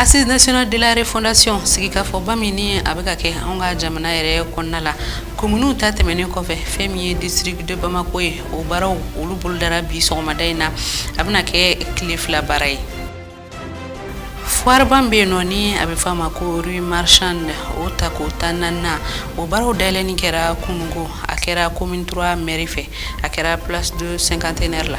Assise nationale de la refondation sigikafɔba min ni a bɛ ka kɛ anw ka jamana yɛrɛ kɔnɔna la kominiw ta tɛmɛnen kɔfɛ fɛn min ye district de Bamako ye o baaraw olu bolodara bi sɔgɔmada in na a bɛna kɛ tile fila baara ye foireba min bɛ yen nɔ ni a bɛ fɔ a ma ko rue marchande o tako tannan o baaraw dayɛlɛni kɛra kununko a kɛra commune 3 mairie fɛ a kɛra place de cinquantenaire la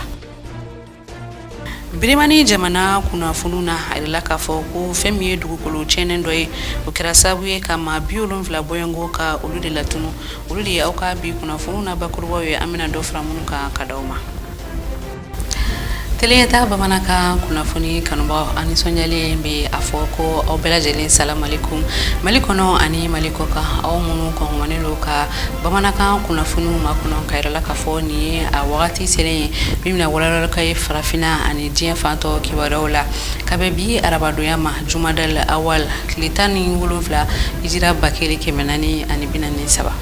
Birimani jamana kunnafoniw na a yirala k'a fɔ ko fɛn min ye dugukolo cɛɛnɛ dɔ ye o kɛra sababu ye ka maa bi wolonwula bɔɲɔgɔnko ka olu de latunu olu de ye aw ka bi kunnafoniw na bakurubaw ye an bɛna dɔ fara minnu kan ka di aw ma Tele Ɲɛtaa bamanankan kunnafoni kanubaaw an nisɔndiyalen bɛ a fɔ ko aw bɛɛ lajɛlen salamalekum Mali kɔnɔ ani Mali kɔkan aw minnu kɔngɔnnen don ka bamanankan kunnafoniw makɔnɔ k'a yira aw la k'a fɔ nin ye a wagati selen ye min bɛna walawalali k'aw ye farafinna ani diɲɛ fan tɔ kibaruyaw la ka bɛn bi arabadonya ma Jumada al awal tile tan ni wolonwula Hijira ba kelen kɛmɛ naani ani bi naani ni saba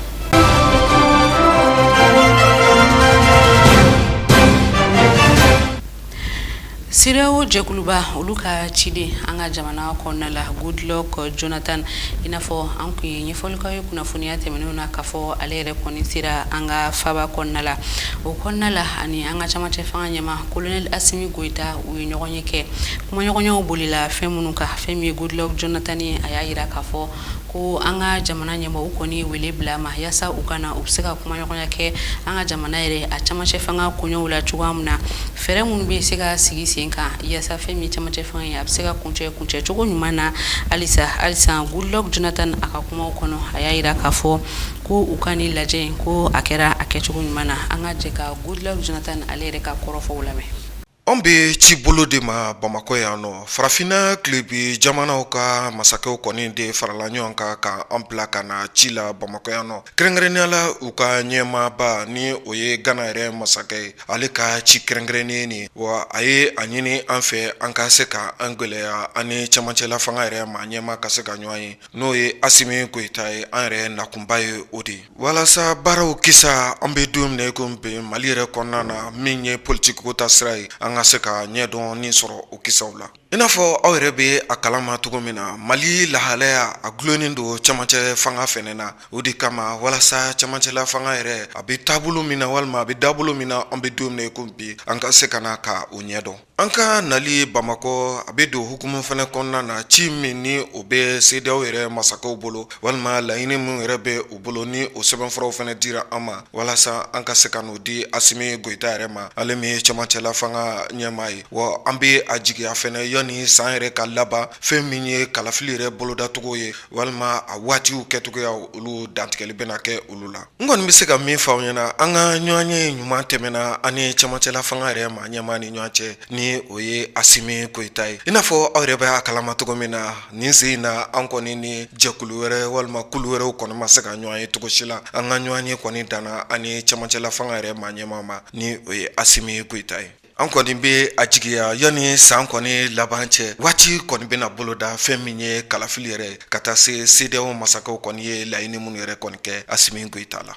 CEDEAO jɛkuluba olu ka ciden an ka jamana kɔnɔna la Goodluck Jonathan i n'a fɔ an tun ye ɲɛfɔli k'aw ye kunnafoniya tɛmɛnenw na k'a fɔ ale yɛrɛ kɔni sera an ka faba kɔnɔna la o kɔnɔna la ani an ka camancɛ fanga ɲɛmaa Colonel Assimi Goita u ye ɲɔgɔnye kɛ kumaɲɔgɔnyaw bolila fɛn minnu kan fɛn min ye Goodluck Jonathan ye a y'a jira k'a fɔ ko an ka jamana ɲɛmaaw kɔni wele bila a ma yaasa u ka na u bɛ se ka kumaɲɔgɔnya kɛ an ka jamana yɛrɛ a camancɛ fanga koɲɛw la cogoya min na fɛɛrɛ minnu bɛ se ka sigi sen kan yaasa fɛn min camancɛ fanga ye a bɛ se ka kuncɛ kuncɛcogo ɲuman na halisa halisa Goodluck Jonathan a ka kuma kɔnɔ a y'a jira k'a fɔ ko u ka nin lajɛ in ko a kɛra a kɛcogo ɲuman na an ka jɛ ka Goodluck Jonathan ale yɛrɛ ka kɔrɔfɔw lamɛn Anw bɛ ci bolo de ma Bamakɔ yan nɔ farafinna tilebin jamanaw ka masakɛw kɔni de farala ɲɔgɔn kan ka an bila ka na ci la Bamakɔ yan nɔ kɛrɛnkɛrɛnnenya la u ka ɲɛmaaba ni o ye Gana yɛrɛ masakɛ ye ale ka ci kɛrɛnkɛrɛnnen nin wa a ye a ɲini an fɛ an ka se ka an gɛlɛya ani camancɛla fanga yɛrɛ ma ɲɛmaa ka se ka ɲɔgɔn ye n'o ye Assimi Goita ye an yɛrɛ nakunba ye o de ye Walasa baaraw kisa an bɛ don min na i ko bi Mali yɛrɛ kɔnɔna na min ye politigiko taasira ye an ka se ka ɲɛdɔnni sɔrɔ o kisaw la i n'a fɔ aw yɛrɛ bɛ a kalama cogo min na Mali lahalaya a dulonnen don camancɛ fanga fɛnɛ na o de kama walasa camancɛla fanga yɛrɛ a bɛ taabolo min na walima a bɛ dabolo min na an bɛ don min na i ko bi an ka se ka na ka o ɲɛdɔn An ka nali bamakɔ a bɛ don hukumu fana kɔnɔna na ci min ni o bɛ CEDEAO yɛrɛ masakɛw bolo walima laɲini minnu yɛrɛ bɛ u bolo ni o sɛbɛnfuraw fana dira an ma walasa an ka se ka n'o di Asimi Goyita yɛrɛ ma ale min ye camancɛla fanga ɲɛmaa ye wa an bɛ a jigiya fana yanni san yɛrɛ ka laban fɛn min ye kalafili yɛrɛ bolodacogo ye walima a waatiw kɛcogoya olu dantigɛli bɛna kɛ olu la n kɔni bɛ se ka min fɔ aw ɲɛna an ka ɲɔgɔnye ɲuman tɛmɛna an ni camancɛla fanga yɛrɛ maa ɲɛmaa ni ɲɔgɔn cɛ ni o ye Asimi Goyita ye i n'a fɔ aw yɛrɛ bɛ a kalama cogo min na nin sen in na an kɔni ni jɛkulu wɛrɛ walima kulu wɛrɛw kɔni ma se ka ɲɔgɔn ye cogosi la an ka ɲɔgɔnye kɔni danna an ni camancɛla fanga yɛrɛ maa ɲɛmaa ma ni o ye Asimi Goyita ye an kɔni bɛ a jigiya yanni san kɔni laban cɛ waati kɔni bɛna boloda fɛn min ye kalafili yɛrɛ ka taa se CEDEAO masakɛw kɔni ye laɲini minnu yɛrɛ kɔni kɛ Asimi Goyita la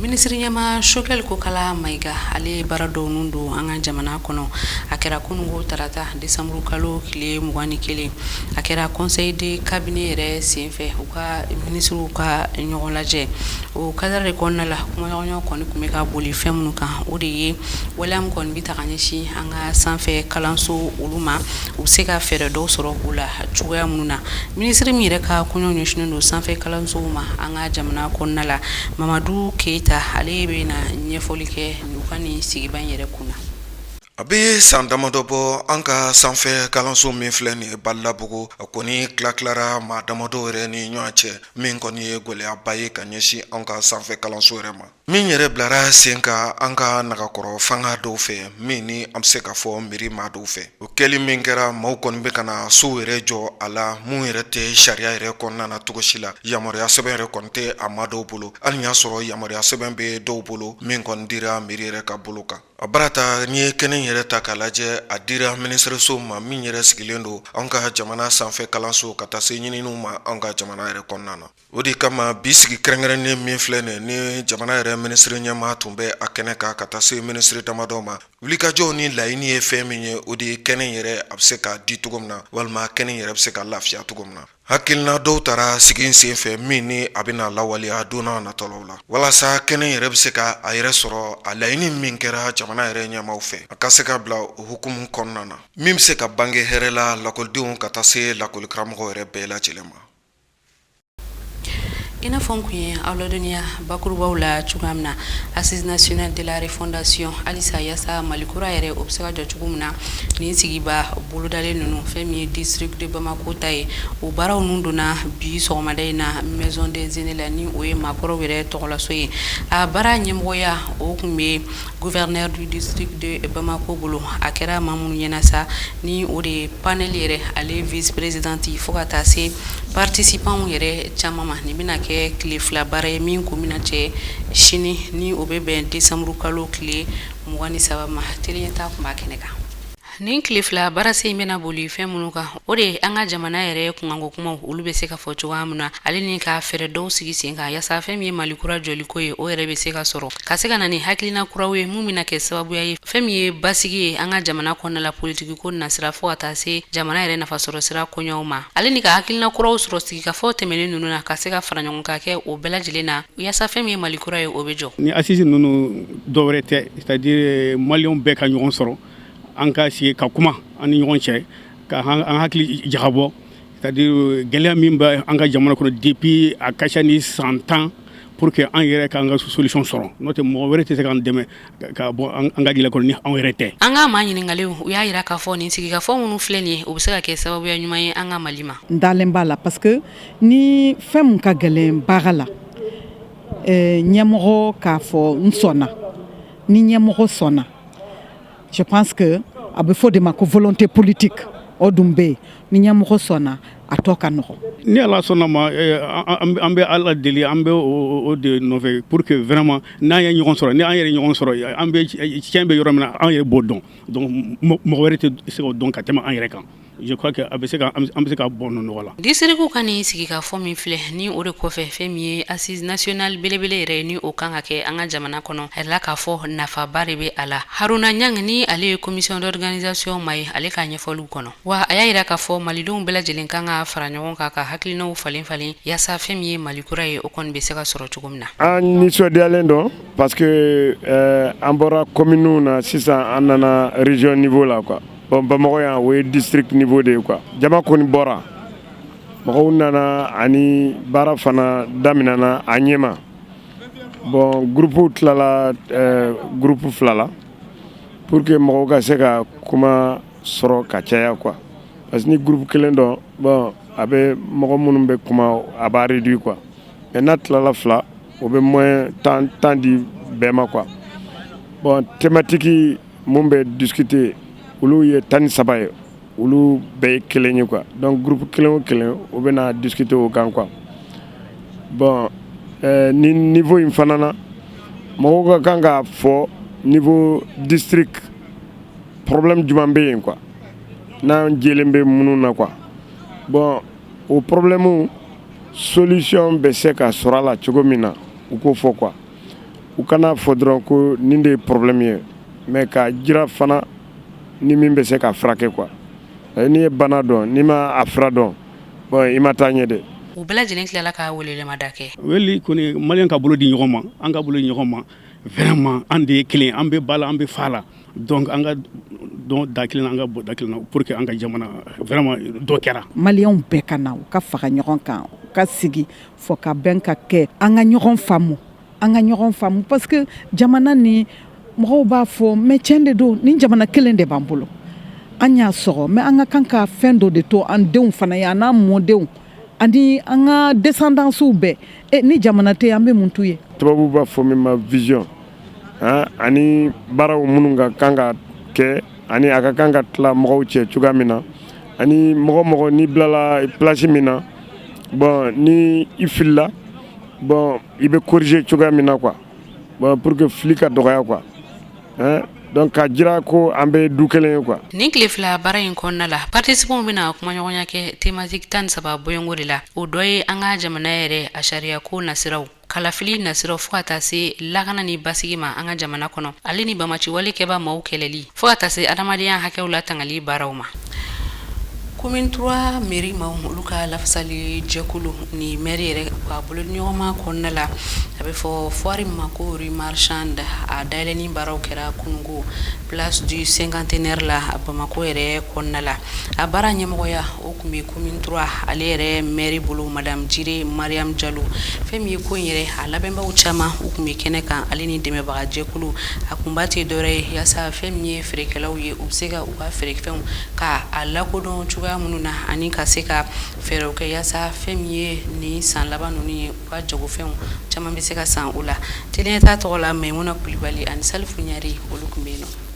minisiri ɲɛmaa Shogɛli Kokala Mayiga ale baara dɔw ninnu don an ka jamana kɔnɔ a kɛra kunun tarata Décembre kalo tile 21 a kɛra conseil de cabinet yɛrɛ senfɛ u ka ministrew ka ɲɔgɔnlajɛ o cadre de kɔnɔna la kumaɲɔgɔnya kɔni tun bɛ ka boli fɛn minnu kan o de ye waleya min kɔni bɛ ta ka ɲɛsin an ka sanfɛ kalanso olu ma u bɛ se ka fɛɛrɛ dɔw sɔrɔ o la cogoya minnu na ministre min yɛrɛ ka kɔɲɔ ɲɛsinnen don sanfɛ kalansow ma an ka jamana kɔnɔna la Mamadu Keyita ale bɛna ɲɛfɔli kɛ u ka nin sigiba in yɛrɛ kunna A bɛ san damadɔ bɔ an ka sanfɛ kalanso min filɛ nin ye Badalabugu a kɔni tilatilara maa damadɔ yɛrɛ ni ɲɔgɔn cɛ min kɔni ye gɛlɛyaba ye ka ɲɛsin an ka sanfɛ kalanso yɛrɛ ma min yɛrɛ bilara sen kan an ka nagakɔrɔ fanga dɔw fɛ min ni an bɛ se k'a fɔ mɛri maa dɔw fɛ o kɛli min kɛra maaw kɔni bɛ ka na sow yɛrɛ jɔ a la minnu yɛrɛ tɛ sariya yɛrɛ kɔnɔna na cogosi la yamaruya sɛbɛn yɛrɛ kɔni tɛ a maa dɔw bolo hali y'a sɔrɔ yamaruya sɛbɛn bɛ dɔw bolo min kɔni dira mɛri yɛrɛ ka bolo kan A barata n'i ye kɛnɛ yɛrɛ ta k'a lajɛ a dira minisiriso ma min yɛrɛ sigilen don an ka jamana sanfɛ kalanso ka taa se ɲininiw ma an ka jamana yɛrɛ kɔnɔna na o de kama bi sigi kɛrɛnkɛrɛnnen min filɛ nin ni jamana yɛrɛ minisiri ɲɛmaa tun bɛ a kɛnɛ kan ka taa se minisiri damadɔ ma wulikajɔw ni laɲini ye fɛn min ye o de ye kɛnɛ yɛrɛ a bɛ se ka di cogo min na walima kɛnɛ yɛrɛ bɛ se ka lafiya cogo min na Hakilina dɔw tara sigi sen fɛ min ni a bɛna lawaleya don natɔlaw la walasa kɛnɛ yɛrɛ bɛ se k'a yɛrɛ sɔrɔ a laɲini min kɛra jamana yɛrɛ ɲɛmaaw fɛ a ka se ka bila o hukumu kɔnɔna na min bɛ se ka bange hɛrɛ la lakɔlidenw ka taa se lakɔlikaramɔgɔ yɛrɛ bɛɛ lajɛlen ma I n'a fɔ n tun ye aw ladɔniya bakurubaw la cogoya min na Assises nationales de la refondation halisa yaasa Mali kura yɛrɛ o bɛ se ka jɔ cogo min na nin sigiba bolodalen ninnu fɛn min ye district de Bamakɔ ta ye o baaraw ninnu donna bi sɔgɔmada in na maison des aînés la ni o ye maakɔrɔw yɛrɛ tɔgɔlaso ye a baara ɲɛmɔgɔya o tun bɛ yen Gouverneur du district de Bamako bolo a kɛra maa minnu ɲɛna sa ni o de ye panel yɛrɛ ale vice présidente fo ka taa se participants yɛrɛ caman ma nin bɛna kɛ tile fila baara ye min kun bɛna cɛ sini ni o bɛ bɛn décembre kalo tile mugan ni saba ma Teli Ɲɛta kun b'a kɛnɛ kan Nin tile fila baarase in bɛna boli fɛn minnu kan o de an ka jamana yɛrɛ kunkanko kumaw olu bɛ se ka fɔ cogoya min na ale ni ka fɛɛrɛ dɔw sigi sen kan yaasa fɛn min ye mali kura jɔliko ye o yɛrɛ bɛ se ka sɔrɔ ka se ka na ni hakilina kuraw ye min bɛna kɛ sababuya ye fɛn min ye basigi ye an ka jamana kɔnɔna la politiki ko nasira fo ka taa se jamana yɛrɛ nafasɔrɔ sira koɲɛw ma ale ni ka hakilina kuraw sɔrɔ sigikafɔ tɛmɛnen ninnu na ka se ka fara ɲɔgɔn kan kɛ o bɛɛ lajɛlen na yaasa fɛn min ye mali kura ye o bɛ jɔ ni assise ninnu dɔ wɛrɛ tɛ c'est à dire maliyɛnw bɛɛ ka ɲɔgɔn sɔrɔ an ka sigi ka kuma an ni ɲɔgɔn cɛ ka an hakili jagabɔ c'est à dire euh, gɛlɛya min bɛ an ka jamana kɔnɔ depuis a ka ca ni san tan pour que an yɛrɛ k'an ka solution sɔrɔ n'o tɛ mɔgɔ wɛrɛ tɛ se k'an dɛmɛ ka bɔ an ka gɛlɛya kɔnɔ ni an yɛrɛ tɛ an ka maa ɲininkalenw u y'a yira k'a fɔ nin sigikafɔ minnu filɛ nin ye o bɛ se ka kɛ sababuya ɲuman ye an ka mali ma n dalen b'a la parce que ni fɛn min ka gɛlɛn baara la eh, ɲɛmɔgɔ k'a fɔ n sɔnna ni ɲɛmɔgɔ sɔnna je pense que a bɛ fɔ o de ma ko volonté politique o dun bɛ yen ni ɲɛmɔgɔ sɔnna a tɔ ka nɔgɔn. ni ala sɔnna ma eh, an bɛ ala deli an bɛ o de nɔfɛ pour que vraiment n'an ye ɲɔgɔn sɔrɔ ni an yɛrɛ ɲɔgɔn sɔrɔ an bɛ tiɲɛ bɛ yɔrɔ min na an yɛrɛ b'o dɔn donc mɔgɔ wɛrɛ tɛ se k'o dɔn ka tɛmɛ an yɛrɛ kan. Je crois que a bɛ se ka an bɛ se ka bɔ nin nɔgɔ la. District ka nin sigikafɔ min filɛ ni o de kɔfɛ fɛn min ye assise nationale belebele yɛrɛ ye ni o kan ka kɛ an ka jamana kɔnɔ, a jirala k'a fɔ nafaba de bɛ a la. Haruna Ɲang ni ale ye commission d'organisation maa ye ale ka ɲɛfɔliw kɔnɔ, wa a y'a yira k'a fɔ malidenw bɛɛ lajɛlen kan ka fara ɲɔgɔn kan ka hakilinaw falen falen yaasa fɛn min ye Mali kura ye o kɔni bɛ se ka sɔrɔ cogo min na. An nisɔndiyalen don parce que an bɔra communes na sisan an nana region niveau la quoi Bon Bamakɔ yan o ye district niveau de ye quoi jama kɔni bɔra mɔgɔw nana ani baara fana daminɛna a ɲɛma bon groupe tilala groupe fila la pour que mɔgɔw ka se ka kuma sɔrɔ ka caya quoi parce que ni groupe kelen don bon a bɛ mɔgɔ minnu bɛ kuma a b'a réduit quoi mais n'a tilala fila o bɛ moins temps di bɛɛ ma quoi bon thématique mun bɛ discuter olu ye tan ni saba ye olu bɛɛ ye kelen ye quoi donc groupe kelen o kelen o bɛna discuter o kan quoi bon nin niveau in fana na mɔgɔw ka kan k'a fɔ niveau district problème jumɛn bɛ yen quoi n'an jɛlen bɛ minnu na quoi bon o problème solution bɛ se ka sɔrɔ a la cogo min na u k'o fɔ quoi u kan'a fɔ dɔrɔn ko nin de ye problème ye mais k'a jira fana ni min bɛ se k'a furakɛ quoi n'i ye bana dɔn n'i ma a fura dɔn bon i ma taa ɲɛ dɛ u bɛɛ lajɛlen tilala ka welemada kɛ wele kɔni maliyɛnw ka bolo di ɲɔgɔn ma an ka bolo di ɲɔgɔn ma vraiment an de ye kelen an bɛ ba la an bɛ fa la donc an ka don da kelen na an ka bɔ da kelen na pour que an ka jamana vraiment dɔ kɛra maliyɛnw bɛɛ ka na u ka fara ɲɔgɔn kan u ka sigi fɔkabɛn ka kɛ an ka ɲɔgɔn faamu an ka ɲɔgɔn faamu parce que jamana ni mɔgɔw b'a fɔ mais tiɲɛ de don ni jamana kelen de b'an bolo an y'a sɔrɔ mais an ka kan ka fɛn dɔ de to an denw fana ye an n'an mɔdenw ani an ka descendances bɛɛ e, ni jamana tɛ an bɛ mun t'u ye tubabu b'a fɔ min ma vision ani baaraw minnu ka kan ka kɛ ani a ka kan ka tila mɔgɔw cɛ cogoya min na ani mɔgɔ o mɔgɔ n'i bilala place min na bon ni i filila bon i bɛ corriger cogoya min na quoi bon pour que fili ka dɔgɔya quoi hein donc k'a jira ko an bɛ du kelen ye quoi. nin tile fila baara in kɔnɔna la participants bɛna kumaɲɔgɔnya kɛ thématique tan ni saba bɔɲɔgɔnko de la o dɔ ye an ka jamana yɛrɛ a sariyako nasiraw kalafili nasiraw fo ka taa se lakana ni basigi ma an ka jamana kɔnɔ ale ni banbaanciwale kɛbaa maaw kɛlɛli fo ka taa se adamadenya hakɛw latangali baaraw ma commune trois mairie maaw olu ka lafasali jɛkulu ni mairie yɛrɛ a bolodiɲɔgɔnma kɔnɔna la a bɛ fɔ foire ma ko rue marchande a dayɛlɛni baaraw kɛra kunungo place du cinquantenaire la a bamakɔ yɛrɛ kɔnɔna la a baara ɲɛmɔgɔya tun bɛ commune trois ale yɛrɛ maire bolo madame jire mariam jalo fɛn min ye ko in yɛrɛ a labɛnbagaw caman u tun bɛ kɛnɛ kan ale ni dɛmɛbagajɛkulu a kunba tɛ dɔwɛrɛ ye walasa fɛn min ye feerekɛlaw ye u bɛ se ka u ka feerefɛnw ka a lakodɔn cogoya minnu na ani ka se ka fɛɛrɛw kɛ walasa fɛn min ye nin san laban ninnu ye u ka jagofɛnw caman bɛ se ka san u la t t'a tɔgɔ la mayimuna kulibali ani salifu ɲare olu tun bɛ yen na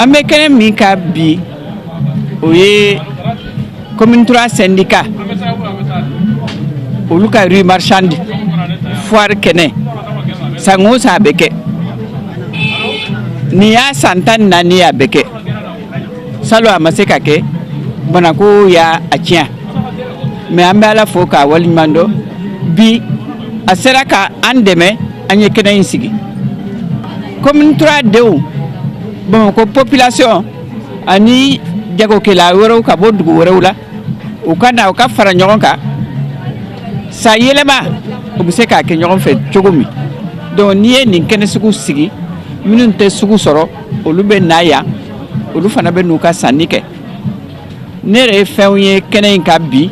an bɛ kɛnɛ min kan bi o ye commune trois syndicat olu ka rue marchande foire kɛnɛ san o san a bɛ kɛ nin y'a san tan ni naani ye a bɛ kɛ salon a ma se ka kɛ banako y'a tiɲɛ mais an bɛ ala fo k'a waleɲuman dɔn bi a sera ka an dɛmɛ an ye kɛnɛ in sigi commune trois denw bamakɔ population ani jagokɛla wɛrɛw ka bɔ dugu wɛrɛw la u ka na u ka fara ɲɔgɔn kan san yɛlɛma u bɛ se k'a kɛ ɲɔgɔn fɛ cogo min donc n'i ye nin kɛnɛ sugu sigi minnu tɛ sugu sɔrɔ olu bɛ na yan olu fana bɛ n'u ka sanni kɛ ne yɛrɛ ye fɛnw ye kɛnɛ in kan bi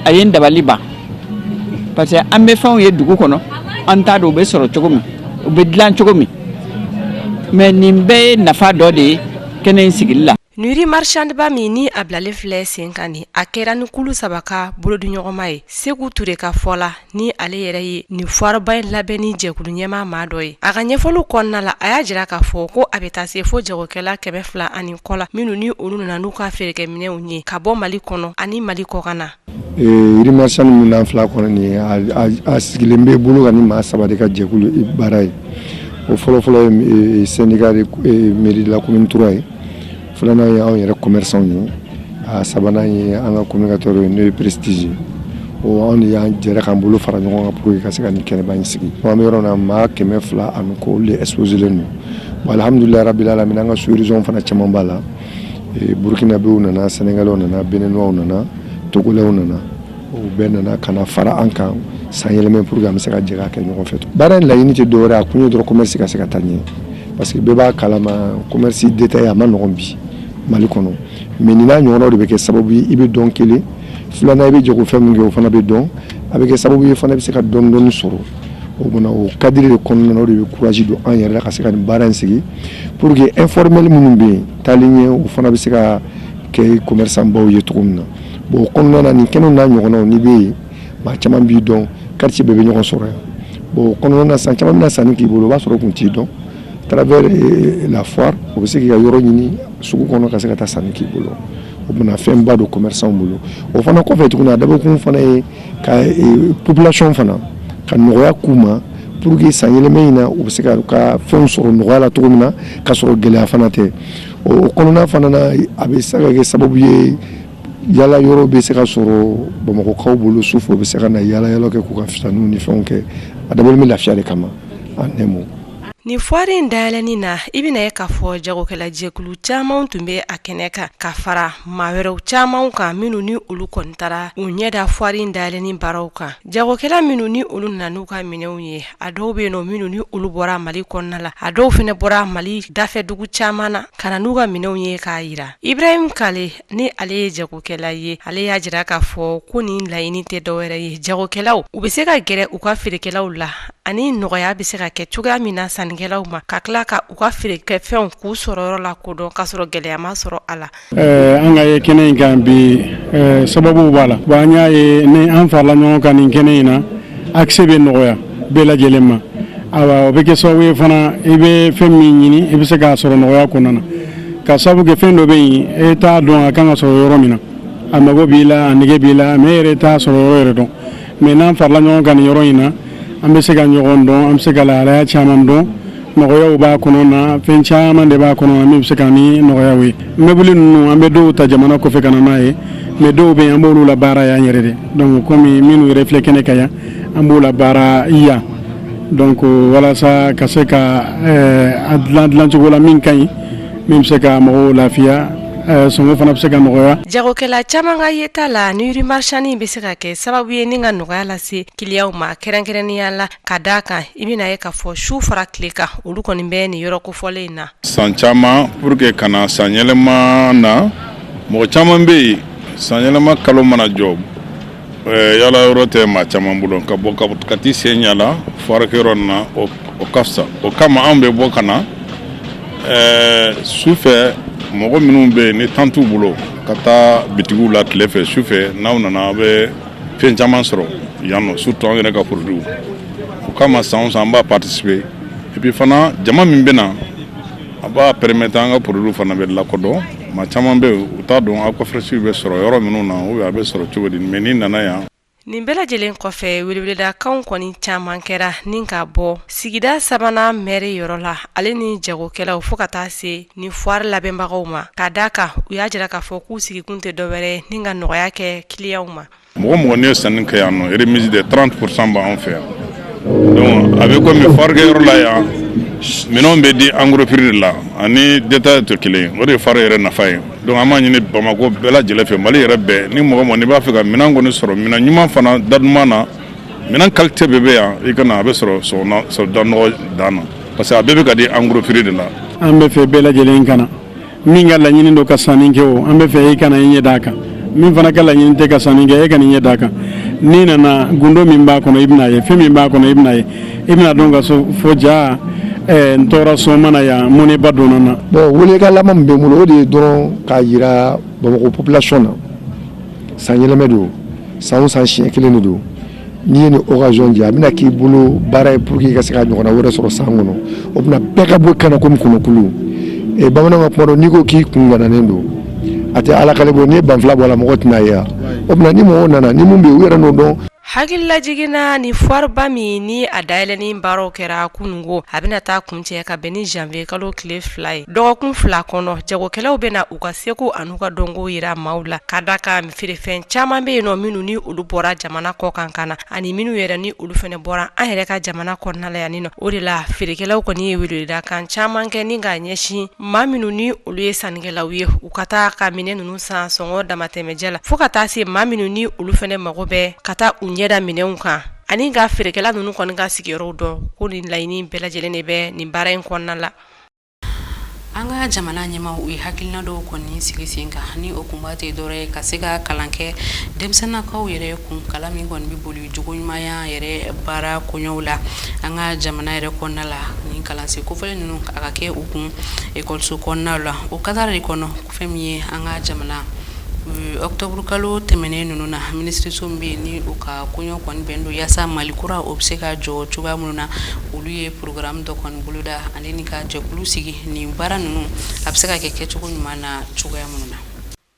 a ye n dabali ban parce que an bɛ fɛnw ye dugu kɔnɔ an t'a dɔn u bɛ sɔrɔ cogo min u bɛ dilan cogo min mais nin bɛɛ ye nafa dɔ de ye kɛnɛ in sigili la nin rue marchandeba min ni a bilalen filɛ sen kan nin a kɛra ni kulu saba ka bolodiɲɔgɔnma ye seku ture ka fɔ la ni ale yɛrɛ ye nin foireba in labɛnni jɛkulu ɲɛmaa maa dɔ ye a ka ɲɛfɔliw kɔnɔna la a y'a jira k'a fɔ ko a bɛ taa se fo jagokɛla kɛmɛ fila ani kɔ la minnu ni olu nana n'u ka feerekɛminɛw ye ka bɔ mali kɔnɔ ani mali kɔkan na Rue marchande min n'an filɛ kɔnɔ nin a sigilen bɛ bolo kan ni maa saba de ka jɛkulu baara ye o fɔlɔfɔlɔ ye mairie de la commune trois ye filanan y' anw yɛrɛ commerçantw ye a sabanan ye an ka communicateur ye n'o ye prestige ye o anw y'an jɛra k'an bolo fara ɲɔgɔn kan pour que ka se ka nin kɛnɛba in sigi an bɛ yɔrɔ na maa kɛmɛ fila ani kɔ olu de exposélen don bon alhamdulilayi rabil alamin an ka sous-région fana caman b'a la Burukinabew nana sénégalaisw nana béninoisw nana togolɛw nana o bɛɛ nana ka na fara an kan san yɛlɛmɛ pour que an bɛ se ka jɛ k'a kɛ ɲɔgɔn fɛ baara in laɲini tɛ dɔwɛrɛ a kun ye dɔrɔn commerce ka se ka taa ɲɛ parce que bɛɛ b'a kalama commerce détaillé a man nɔgɔn bi mali kɔnɔ mais nin n'a ɲɔgɔnnaw de bɛ kɛ sababu ye i bɛ dɔn kelen filanan i bɛ jagofɛn min kɛ o fana bɛ dɔn a bɛ kɛ sababu ye fana bɛ se ka dɔɔni sɔrɔ o o cadre de kɔnɔna na o de bɛ courage don an yɛrɛ la ka se ka nin baara in sigi Pour que informel minnu bɛ yen taalen ɲɛ u fana bɛ se ka kɛ commerçantbaw ye cogo min na bon o kɔnɔna na nin kɛnɛ n'a ɲɔgɔnnaw n'i bɛ yen maa caman b'i dɔn quartier bɛɛ bɛ ɲɔgɔn sɔrɔ yan bon o kɔnɔna na san caman bɛna sanni k'i bolo o b'a sɔrɔ u tun t'i dɔn à travers la foire u bɛ se k'i ka yɔrɔ ɲini sugu kɔnɔ ka se ka taa sanni k'i bolo u bɛna fɛnba don commerçantw bolo o fana kɔfɛ tuguni a dabɔkun fana ye ka population fana ka nɔgɔya k'u ma pour que san yɛlɛma in na u bɛ se ka ka fɛnw sɔrɔ nɔgɔya la cogo min na ka sɔrɔ gɛlɛya fana tɛ o kɔnɔna fana na a bɛ se ka kɛ sababu ye yala yɔrɔ bɛ se ka sɔrɔ bamakɔkaw bolo su fɛ u bɛ se ka na yala yala kɛ k'u ka fitaninw ni fɛnw kɛ a dabɔlen bɛ lafiya de kama en un mot Nin foire in dayɛlɛni na i bɛna ye k'a fɔ jagokɛlajɛkulu caman tun bɛ a kɛnɛ kan ka fara maa wɛrɛw caman kan minnu ni olu kɔni taara u ɲɛda foire in dayɛlɛni baaraw kan jagokɛla minnu ni olu nana n'u ka minɛnw ye a dɔw bɛ yen nɔ minnu ni olu bɔra mali kɔnɔna la a dɔw fana bɔra mali dafɛdugu caman na ka na n'u ka minɛnw ye k'a yira Ibrahim Kale ni ale ye jagokɛla ye ale y'a jira k'a fɔ ko nin laɲini tɛ dɔwɛrɛ ye jagokɛlaw u bɛ se ka gɛrɛ u ka feerekɛlaw la ani nɔgɔya bɛ se ka kɛ cogoya min na sannikɛlaw ma ka tila ka u ka feerekɛ fɛnw k'u sɔrɔ yɔrɔ la k'o dɔn k'a sɔrɔ gɛlɛya ma sɔrɔ a la an ka ye kɛnɛ in kan bi sababu b'a la wa an y'a ye ni an farala ɲɔgɔn kan nin kɛnɛ in na accès bɛ nɔgɔya bɛɛ lajɛlen ma ayiwa o bɛ kɛ sababu ye fana i bɛ fɛn min ɲini i bɛ se k'a sɔrɔ nɔgɔya kɔnɔna na ka sababu kɛ fɛn dɔ bɛ yen e t'a dɔn a kan ka sɔrɔ yɔrɔ min na a mago b'i la a nege b'i la mɛ e yɛrɛ t'a sɔrɔ yɔrɔ yɛrɛ dɔn mɛ n'an farala ɲɔgɔn kan nin yɔrɔ in na an bɛ se ka ɲɔgɔn dɔn an bɛ se ka lahalaya caman dɔn nɔgɔyaw b'a kɔnɔ na fɛn caman de b'a kɔnɔ min bɛ se ka ni nɔgɔyaw ye mɛbili ninnu an bɛ dɔw ta jamana kɔfɛ ka na n'a ye mɛ dɔw bɛ yen an b'olu labaara yan yɛrɛ de donc kɔmi minnu yɛrɛ filɛ kɛnɛ kan yan an b'o labaara yan donc walasa ka se ka eh, a dilan dilan cogo la min ka ɲi min bɛ se ka mɔgɔw lafiya eh, sɔngɔ fana bɛ se ka nɔgɔya jagokɛla caman ka yeta la nuit marchande bɛ se ka kɛ sababu ye ni ka nɔgɔya lase kiliyaw ma kɛrɛnkɛrɛnnenya la ka d'a kan i bɛna ye k'a fɔ su fara tile kan olu kɔni bɛ nin yɔrɔ kofɔlen in na san caman pour que ka na sanyɛlɛma na mɔgɔ caman bɛ yen sanyɛlɛma kalo mana jɔ yala yɔrɔ tɛ maa caman bolo ka bɔ ka t'i sen yala foire kɛyɔrɔ na o ka fisa o kama anw bɛ bɔ ka na su fɛ mɔgɔ minnu bɛ yen ni temps t'u bolo ka taa bitigiw la tile fɛ su fɛ n'aw nana a bɛ fɛn caman sɔrɔ yan nɔ surtout an yɛrɛ ka produits o kama san o san an b'a participer et puis fana jama min bɛ na a b'a permettre an ka produits fana bɛ lakodɔn maa caman bɛ yen u t'a dɔn aquafresh bɛ sɔrɔ yɔrɔ minnu na ou bien a bɛ sɔrɔ cogo di mais n'i nana yan nin bɛɛ lajɛlen kɔfɛ weleweledakanw kɔni caman kɛra ni ka bɔ sigida sabanan mɛri yɔrɔ la ale ni jagokɛlaw fo ka taa se ni foire labɛnbagaw ma ka d'a kan u y'a jira k'a fɔ k'u sigikun tɛ dɔwɛrɛ ni ka nɔgɔya kɛ kiliyaw ma mɔgɔ mɔgɔ n'i ye sanni kɛ yan nɔ remise de trente pour cent b'anw fɛ yan a bɛ kɔmi foire kɛyɔrɔ la yan minɛn bɛ di en gros prix de la ani détail tɛ kelen o de ye foire yɛrɛ nafa ye donc an b'a ɲini bamakɔ bɛɛ lajɛlen fɛ mali yɛrɛ bɛɛ ni mɔgɔ n'i b'a fɛ ka minɛn kɔni sɔrɔ minɛn ɲuman fana da duman na minɛn qualité bɛɛ bɛ yan i ka na a bɛ sɔrɔ da nɔgɔ dan na parce que a bɛɛ bɛ ka di en gros prix de la. an b'a fɛ bɛɛ lajɛlen ka na min ka laɲini don ka sanni kɛ o an b'a fɛ e ka na i ɲɛ d'a kan min fana ka laɲini tɛ ka sanni kɛ e ka na i ɲɛ d'a kan n'i nana gundo min b'a kɔnɔ i bɛna ye fɛn min b'a kɔnɔ i bɛna ye i bɛna dɔn k'a fɔ jaa eh, n tora so n ma na yan mɔnɛba donna n na. bon welekan laban min bɛ n bolo o de ye dɔrɔn k'a jira bamakɔ population na sanyɛlɛma don san o san siɲɛ kelen de don. n'i ye nin occasion jɛ a bɛna k'i bolo baara ye pour que i ka se ka ɲɔgɔnna wɛrɛ sɔrɔ san kɔnɔ o bɛna bɛɛ ka bɔ ka na komi kɔnɔkulu e bamananw ka kuma don n'i ko k'i kun gananen don a tɛ ala kali bɔ n'i ye banfula bɔ a la mɔgɔ tɛna ye o bɛna ni mɔgɔw nana ni mun bɛ yen u yɛrɛ n'o dɔn hakililajiginna ni foireba min ni a dayɛlɛnni baaraw kɛra kununko a bɛna taa kuncɛ ka bɛn ni janvier kalo tile fila ye dɔgɔkun fila kɔnɔ jagokɛlaw bɛna u ka seko an'u ka dɔnko jira maaw la ka da ka feerefɛn caman bɛ yen nɔ minnu ni olu bɔra jamana kɔ kan ka na ani minnu yɛrɛ ni olu fɛnɛ bɔra an yɛrɛ ka jamana kɔnɔnala yan nɔ o de la feerekɛlaw kɔni ye weleweleda kan caman kɛ ni k'a ɲɛsin maa minnu ni olu ye sannikɛlaw ye u ka taa ka minɛn ninnu san sɔngɔ damatɛmɛjɛ la fo ka taa se maa minnu ni olu fɛnɛ mago bɛ ka taa u ɲɛda minɛnw kan ani ka feerekɛla ninnu kɔni ka sigiyɔrɔw dɔn ko nin laɲini bɛɛ lajɛlen de bɛ nin baara in kɔnɔna la An ka jamana ɲɛmaaw u ye hakilina dɔw kɔni sigi sen kan ni o kunba tɛ dɔwɛrɛ ye ka se ka kalan kɛ denmisɛnninkaw yɛrɛ kun kalan min kɔni bɛ boli jogo ɲumanya yɛrɛ baara kow la an ka jamana yɛrɛ kɔnɔna la ni kalansen kofɔlen ninnu a ka kɛ u kun ekɔliso kɔnɔna la o kadara de kɔnɔ fɛn min ye an ka jamana ɔkutɔburu kalo tɛmɛnen ninnu na minisiriso min bɛ yen ni u ka koɲɛ kɔni bɛn don walasa mali kura o bɛ se ka jɔ cogoya minnu na olu ye porogaramu dɔ kɔni boloda Ka jɛkulu sigi nin baara ninnu a bɛ se ka kɛ kɛcogo ɲuman na cogoya minnu na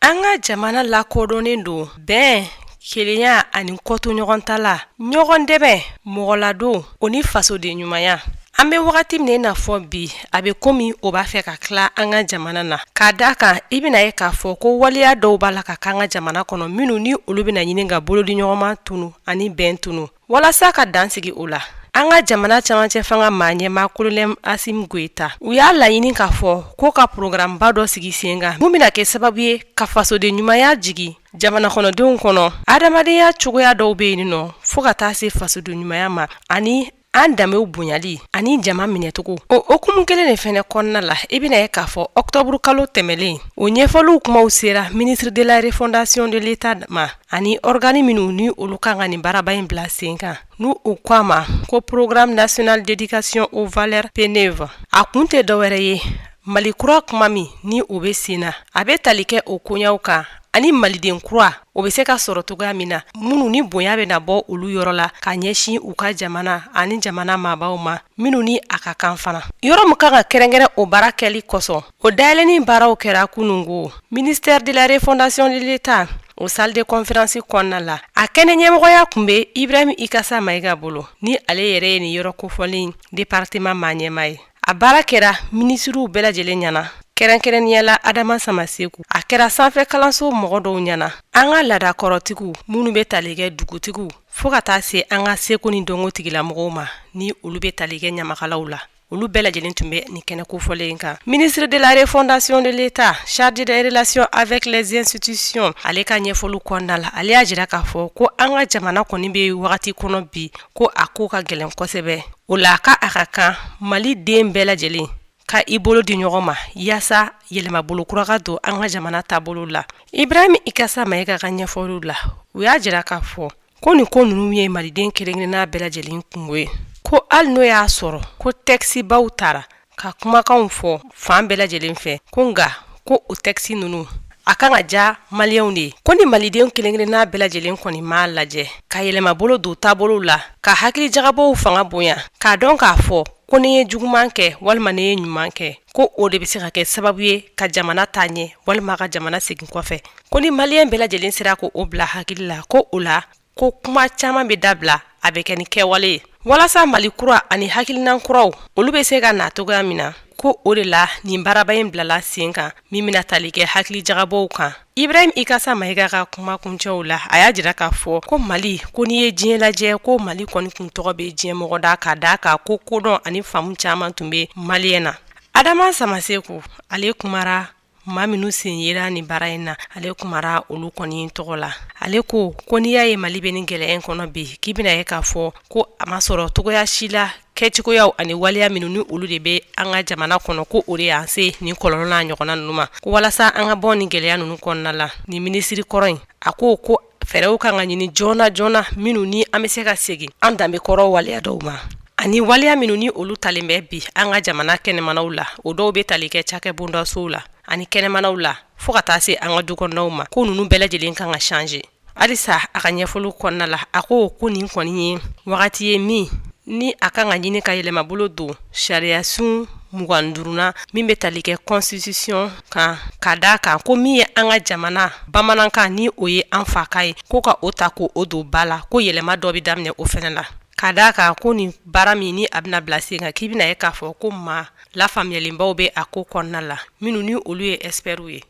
an ka jamana lakodɔnnen don bɛn kelenya ani kɔtɔɲɔgɔntala ɲɔgɔn dɛmɛ mɔgɔladon o ni fasoden ɲumanya an bɛ wagati min na i n'a fɔ bi a bɛ komi o b'a fɛ ka tila an ka jamana na k'a da a kan i bɛna ye k'a fɔ ko waleya dɔw b'a la ka k'an ka jamana kɔnɔ minnu ni olu bɛna ɲini ka bolodiɲɔgɔnma tunun ani bɛn tunun Walasa ka dansigi o la an ka jamana camancɛ fanga maa ɲɛmaa Kolonɛli Asimi Goyita u y'a laɲini k'a fɔ ko ka porogaramuba dɔ sigi sen kan mun bɛna kɛ sababu ye ka fasoden ɲumanya jigin jamana kɔnɔdenw kɔnɔ hadamadenya cogoya dɔw bɛ yen nɔ fo ka taa se fasoden ɲumanya ma ani an danbew bonyali ani jama minɛcogo o hukumu kelen de fɛnɛ kɔnɔna la i bɛna ye k'a fɔ ɔkutɔburu kalo tɛmɛnen o ɲɛfɔliw kumaw sera ministre de la refondation de l'État ma ani organi minnu ni olu kan ka nin baraba in bila sen kan n'u ko a ma ko programme national d'éducation aux valeurs PNEV a kun tɛ dɔwɛrɛ ye mali kura kuma min ni o bɛ sen na a bɛ tali kɛ o koɲaw kan ani maliden kura o bɛ se ka sɔrɔ cogoya min na minnu ni bonya bɛna bɔ olu yɔrɔ la ka ɲɛsin u ka jamana ani jamana maabaw ma minnu ni a ka kan fana yɔrɔ min kan ka kɛrɛnkɛrɛn o baara kɛli kosɔn O dayɛlɛnni baaraw kɛra kunun ko ministère de la refondation de l'État o salle de conférence kɔnɔna la a kɛnɛ ɲɛmɔgɔya tun bɛ Ibrahim Ikasa Mayiga bolo ni ale yɛrɛ ye nin yɔrɔ kofɔlen département maa ɲɛmaa ye a baara kɛra minisiriw bɛɛ lajɛlen ɲɛna kɛrɛnkɛrɛnnenya la Adama Samaseku a kɛra sanfɛ kalanso mɔgɔ dɔw ɲɛna an ka laadakɔrɔtigiw minnu bɛ tali kɛ dugutigiw fo ka taa se an ka seko ni dɔnko tigilamɔgɔw ma ni olu bɛ tali kɛ ɲamakalaw la olu bɛɛ lajɛlen tun bɛ nin kɛnɛ kofɔlen in kan ministre de la refondation de l'État chargé des relations avec les institutions ale ka ɲɛfɔli kɔnɔna la ale y'a jira k'a fɔ ko an ka jamana kɔni bɛ wagati kɔnɔ bi ko a ko ka gɛlɛn kosɛbɛ o la ka a ka kan maliden bɛɛ lajɛlen ka i bolo di ɲɔgɔn ma yaasa yɛlɛmabolo kura ka don an ka jamana taabolo la Ibrahim Ikassa Maïga ka ɲɛfɔliw la u y'a jira k'a fɔ ko nin ko ninnu ye maliden kelenkelenna bɛɛ lajɛlen kungo ye ko hali n'o y'a sɔrɔ ko tɛkisibaw taara ka kumakanw fɔ fan bɛɛ lajɛlen fɛ ko nka ko o tɛkisi ninnu a kan ka diya maliyɛnw de ye ko ni maliden kelenkelenna bɛɛ lajɛlen kɔni m'a lajɛ ka yɛlɛmabolo don taabolo la ka hakili jagabɔ fanga bonya k'a dɔn k'a fɔ ko ne ye juguman kɛ walima ne ye ɲuman kɛ ko o de bɛ se ka kɛ sababu ye ka jamana taa ɲɛ walima ka jamana segin kɔfɛ ko ni maliyɛn bɛɛ lajɛlen sera k'o bila hakili la ko o la ko kuma caman bɛ dabila a bɛ kɛ ni kɛwale ye walasa mali kura ani hakilinan kuraw olu bɛ se ka na cogoya min na ko o de la nin baaraba in bilala sen kan min bɛna tali kɛ hakili jagabɔw kan Ibrahim Ikassa Maïga ka kuma kuncɛw la a y'a jira k'a fɔ ko mali ko n'i ye diɲɛ lajɛ ko mali kɔni kun tɔgɔ bɛ diɲɛ mɔgɔ da ka d'a kan ko kodɔn ani faamu caman tun bɛ maliyɛn na Adama Samassékou ale kumara maa minnu sen yera nin baara in na ale kumara olu kɔni tɔgɔ la ale ko ko n'i y'a ye mali bɛ nin gɛlɛya in kɔnɔ bi k'i bɛna ye k'a fɔ ko a ma sɔrɔ cogoya si la kɛcogoyaw ani waleya minnu ni olu de bɛ an ka jamana kɔnɔ ko o de y'an se nin kɔlɔlɔ n'a ɲɔgɔnna ninnu ma ko walasa an ka bɔ nin gɛlɛya ninnu kɔnɔna la nin minisiri kɔrɔ in a ko ko fɛɛrɛw kan ka ɲini joona joona minnu ni an bɛ se ka segin an danbe kɔrɔ waleya dɔw ma ani waleya minnu ni olu talen bɛ bi an ka jamana kɛnɛmanaw la o dɔw bɛ tali kɛ cakɛ bondasow la ani kɛnɛmanaw la fɔɔ ka taa se an ka dukɔnɔnaw ma ko ninnu bɛɛ lajɛlen kan ka changer halisa a ka ɲɛfɔli kɔnɔna la a ko ko nin kɔni ye wagati ye min ni a kan ka ɲini ka yɛlɛmabolo don sariyasun mugan duurunan min bɛ tali kɛ constitution kan ka d'a kan ko min ye an ka jamana bamanankan ni o ye an fakan ye ko ka o ta k'o don ba la ko yɛlɛma dɔ bɛ daminɛ o fɛnɛ la ka d'a kan ko nin baara min ni a bɛna bila sen kan k'i bɛna ye k'a fɔ ko maa lafaamuyalenbaw bɛ a ko kɔnɔna la minnu ni olu ye expertw ye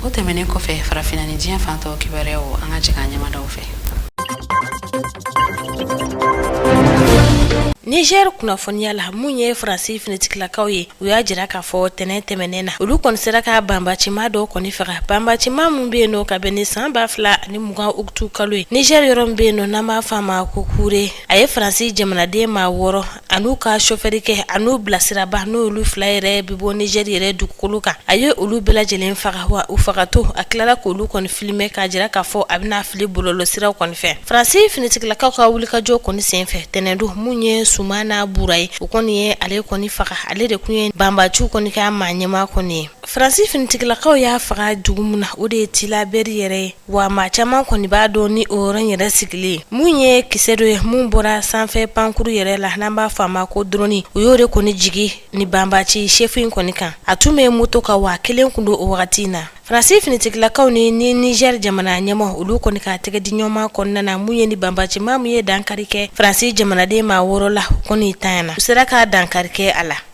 o tɛmɛnen kɔfɛ farafinna ni diɲɛ fan tɔw kibaruyaw an ka jigin an ɲɛmadaw fɛ Niger kunnafoniya la min ye Faransi finitigilakaw ye u y'a jira k'a fɔ tɛnɛn tɛmɛnen na olu kɔni sera ka banbacima dɔ kɔni faga banbacima min bɛ yen nɔ ka bɛn ni san ba fila ani mugan ugutu kalo ye Niger yɔrɔ min bɛ yen nɔ n'an b'a fɔ a ma ko Kure a ye Faransi jamanaden maa wɔɔrɔ an'u ka sofɛri kɛ an'u bilasiraba n'olu fila yɛrɛ bi bɔ Niger yɛrɛ dugukolo kan a ye olu bɛɛ lajɛlen faga wa u fagatɔ a tilala k' olu kɔni filime k'a jira k'a fɔ a bɛna fili bɔlɔlɔsiraw kɔni fɛ faransi finitigilakaw ka wulikajɔ kɔni senfɛ tɛnɛndon mun ye Sumana Bura ye u kɔni ye ale kɔni faga ale de tun ye banbaciw kɔni ka maa ɲɛma kɔni ye faransi finitigilakaw y'a faga dugu min na o de ye Tilaberi yɛrɛ ye wa maa caman kɔni b'a dɔn ni o yɔrɔ yɛrɛ sigilen mun ye kisɛ dɔ ye mun bɔra sanfɛ pankuru yɛrɛ la n'an b'a fɔ a ma ko drɔni u y'o de kɔni jigi ni banbaci chef in kɔni kan a tun bɛ moto kan wa a kelen kun don o wagati in na faransi finitigilakaw ni ni niger jamana ɲɛmɔ olu kɔni ka tɛgɛ di ɲɔgɔnma kɔnɔna na mun ye ni banbaci maa min ye dankari kɛ faransi jamanaden maa wɔɔrɔ la kɔni tanyana u sera ka dankari kɛ a la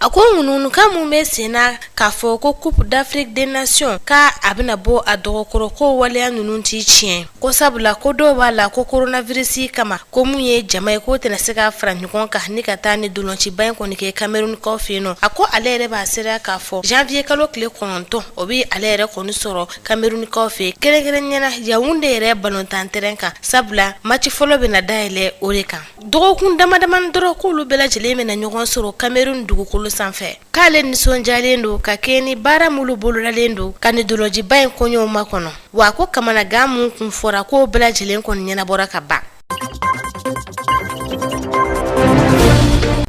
A ko ŋunuŋunukan mun bɛ sen na k'a fɔ ko Coupe d'Afrique des Nations k' a bɛna bɔ a dɔgɔkɔrɔ ko waleya ninnu tɛ tiɲɛ ko sabula ko dɔw b'a la ko koronavirisi kama ko mun ye jama ye k'o tɛna se ka fara ɲɔgɔn kan ni ka taa ni dolonciba in kɔni kɛ kamerunikaw fɛ yen nɔ a ko ale yɛrɛ b'a seereya k'a fɔ janvier kalo tile kɔnɔntɔn o bɛ ale yɛrɛ kɔni sɔrɔ kamerunikaw fɛ kɛrɛnkɛrɛnnenya na Yaoundé yɛrɛ balontan terɛn kan sabula maci fɔlɔ bɛna dayɛlɛ o de kan dɔgɔkun damadamani dɔrɔn k'olu bɛɛ lajɛlen bɛna ɲɔgɔn sɔrɔ Cameroun dugukolo sanfɛ k'ale nisɔndiyalen don ka kɛɲɛ ni baara minnu bolodalen don ka nin dolonciba in koɲɛw makɔnɔ wa ko kamanagan min tun fɔra k'o bɛɛ lajɛlen kɔni ɲɛnabɔra ka ban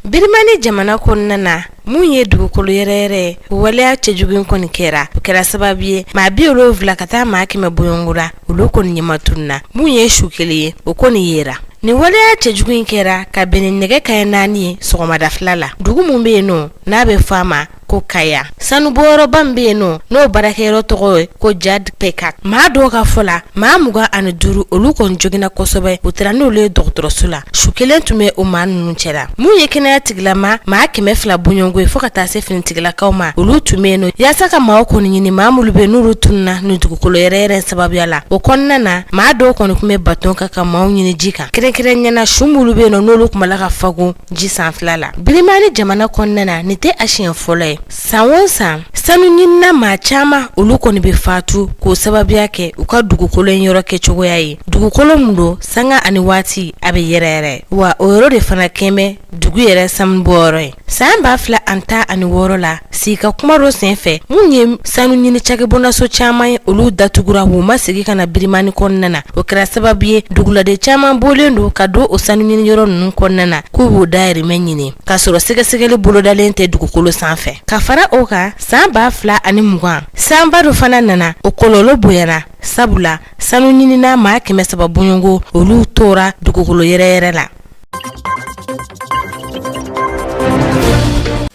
Birimani jamana kɔnɔna na Mun ye dugukolo yɛrɛyɛrɛ ye o waleya cɛjugu kɔni kɛra o kɛra sababu ye maa bi wolonwula ka taa maa kɛmɛ bɔɲɔgɔnko la olu kɔni ɲɛmatununna mun ye su kelen ye o kɔni yera nin waleya cɛjugu in kɛra ka bɛn ni nɛgɛ kanɲɛ naani ye sɔgɔmada fɛla la dugu min bɛ yen nɔ n'a bɛ fɔ a ma ko Kaya sanubɔyɔrɔba min bɛ yen nɔ n'o baarakɛyɔrɔ tɔgɔ ye ko Jad Pekat maa dɔw ka fɔ la maa mugan ani duuru olu kɔni joginna kosɛbɛ u taara n'olu ye dɔgɔtɔrɔso la su kelen tun bɛ o maa ninnu cɛ la mun ye kɛnɛya tigilama maa kɛmɛ fila bɔɲɔgɔnko ye fo ka taa se finitigilakaw ma olu tun bɛ yen nɔ yaasa ka maaw kɔni ɲini maa minnu bɛ n'olu tununna nin dugukolo yɛrɛyɛrɛ sababuya la o kɔnɔna na maa dɔw kɔni tun bɛ baton kan ka maaw ɲini ji kan kɛrɛnkɛrɛnnenya na su minnu bɛ yen nɔ n'olu tun b'a la ka fogon ji sanfɛla la Birimani jamana kɔnɔna na nin tɛ a siɲɛ fɔlɔ ye san o san sanuɲinina maa caman olu kɔni bɛ fatu k'o sababuya kɛ u ka dugukolo in yɔrɔ kɛcogoya ye dugukolo mun don sanga ani waati a bɛ yɛrɛyɛrɛ wa o yɔrɔ de fana kɛlen bɛ dugu yɛrɛ sanubɔyɔrɔ ye san ba fila ani tan ani wɔɔrɔ la sigi ka kuma dɔ senfɛ mun ye sanu ɲini cakɛbonaso caman ye olu datugura u ma segin ka na birimani kɔnɔna na o kɛra sababu ye duguladen caman bɔlen don ka don o sanu ɲini yɔrɔ ninnu kɔnɔna na k'u b'u dayirimɛ ɲini k'a sɔrɔ sɛgɛsɛgɛli bolodalen tɛ dugukolo sanfɛ ka fara o kan san ba fila ani mugan sanba dɔ fana nana o kɔlɔlɔ bonyayana sabula sanu ɲinina maa kɛmɛ saba bɔɲɔgɔnko olu tora dugukolo yɛrɛ yɛrɛ la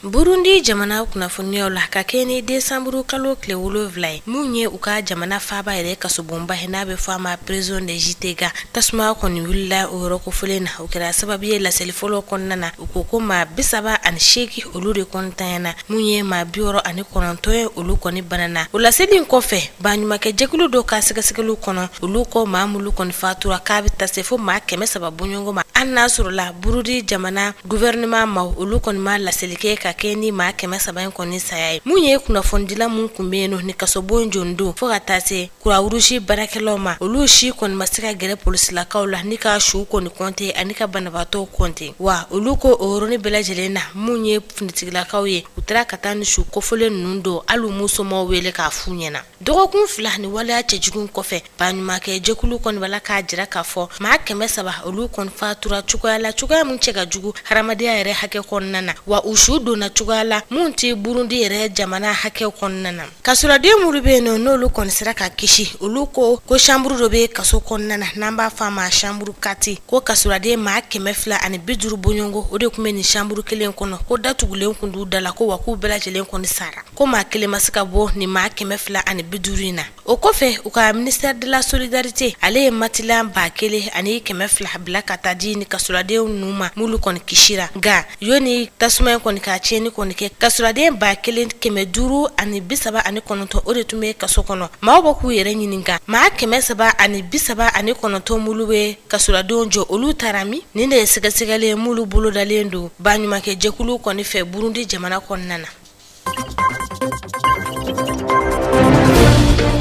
burundi jamana kunnafoniyaw la ka kɛɲɛ ni desanburu kalo tile wolonwula ye mun ye u ka jamana faaba yɛrɛ kasobonba ye n'a bɛ fɔ a ma prison de gitega tasuma kɔni wulila o yɔrɔ kofolen na o kɛra sababu ye laseli fɔlɔ kɔnɔna na u ko ko maa bisaba ani seegin olu de kɔntanyana Mun ye maa bi wɔɔrɔ ani kɔnɔntɔn ye olu kɔni banana o laseli in kɔfɛ baɲumankɛjɛkulu dɔ ka sɛgɛsɛgɛli kɔnɔ olu ko maa mulu kɔni fatura k'a bɛ taa se fo maa kɛmɛ saba bɔɲɔgɔnko ma an n'a sɔrɔla burundi jamana gouvernement maaw olu kɔni ma laseli kɛ ka kɛɲɛ ni maa kɛmɛ saba in kɔni saya ye mun ye kunnafonidila mun tun bɛ yen nɔ ni kasobon jɔdon fo ka taa se croix rouge baarakɛlaw ma olu si kɔni ma se ka gɛrɛ polisilakaw la ni ka su kɔni kɔnte ani ka banabaatɔ kɔnte wa olu ko o yɔrɔnin bɛɛ lajɛlen na minnu ye finitigilakaw ye u taara ka taa ni su kofɔlen ninnu don hali m'u somaaw wele k'a f'u ɲɛna dɔgɔkun fila ni waleya cɛjugu kɔfɛ baɲumankɛ jɛkulu kɔni b'a la k'a jira k'a fɔ maa kɛmɛ saba olu kɔni fatura cogoya la cogoyaya min cɛ ka jugu hadamadenya yɛrɛ hakɛ kɔnɔna na wa u su donna cogoya la min tɛ burundi yɛrɛ jamana hakɛ kɔnɔna na Kasoladen minnu bɛ yen nɔ n'olu kɔni sera ka kisi olu ko ko chambre dɔ bɛ kaso kɔnɔna na n'an b'a fɔ a ma chambre quatre ko kasoladen maa kɛmɛ fila ani bi duuru bɔɲɔgɔnko o de tun bɛ nin chambre kelen kɔnɔ ko da tugulen tun d'u da la ko wa k'u bɛɛ lajɛlen kɔni sara ko maa kelen ma se ka bɔ nin maa kɛmɛ fila ani bi duuru in na o kɔfɛ u ka ministère de la solidarité ale ye matelas ba kelen ani kɛmɛ fila bila ka taa di ni kasoladen ninnu ma mulu kɔni kisira nka yanni tasuma in kɔni ka tiɲɛni kɔni kɛ kasoladen ba kelen kɛmɛ duuru ani bi saba ani kɔnɔntɔn o de tun bɛ kaso kɔnɔ maaw bɛ k'u yɛrɛ ɲininka maa kɛmɛ saba ani bi saba ani kɔnɔntɔn minnu bɛ kasoladenw jɔ olu taara min nin de ye sɛgɛsɛgɛli ye mulu bolodalen don baɲumankɛjɛkulu kɔni fɛ burundi jamana kɔnɔna na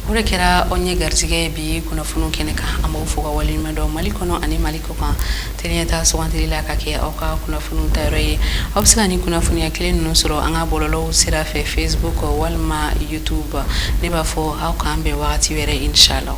o de kɛra anw ye garijɛgɛ bi kunnafoniw kɛnɛ kan an b'aw fo ka waleɲuman dɔn mali kɔnɔ ani mali kɔ kan tele ɲɛtaa sugandili la ka kɛ aw ka kunnafoniw tayɔrɔ ye aw bɛ se ka ni kunnafoniya kelen ninnu sɔrɔ an ka bɔlɔlɔw sira fɛ facebook walima youtube ne b'a fɔ aw k'an bɛn wagati wɛrɛ inshallah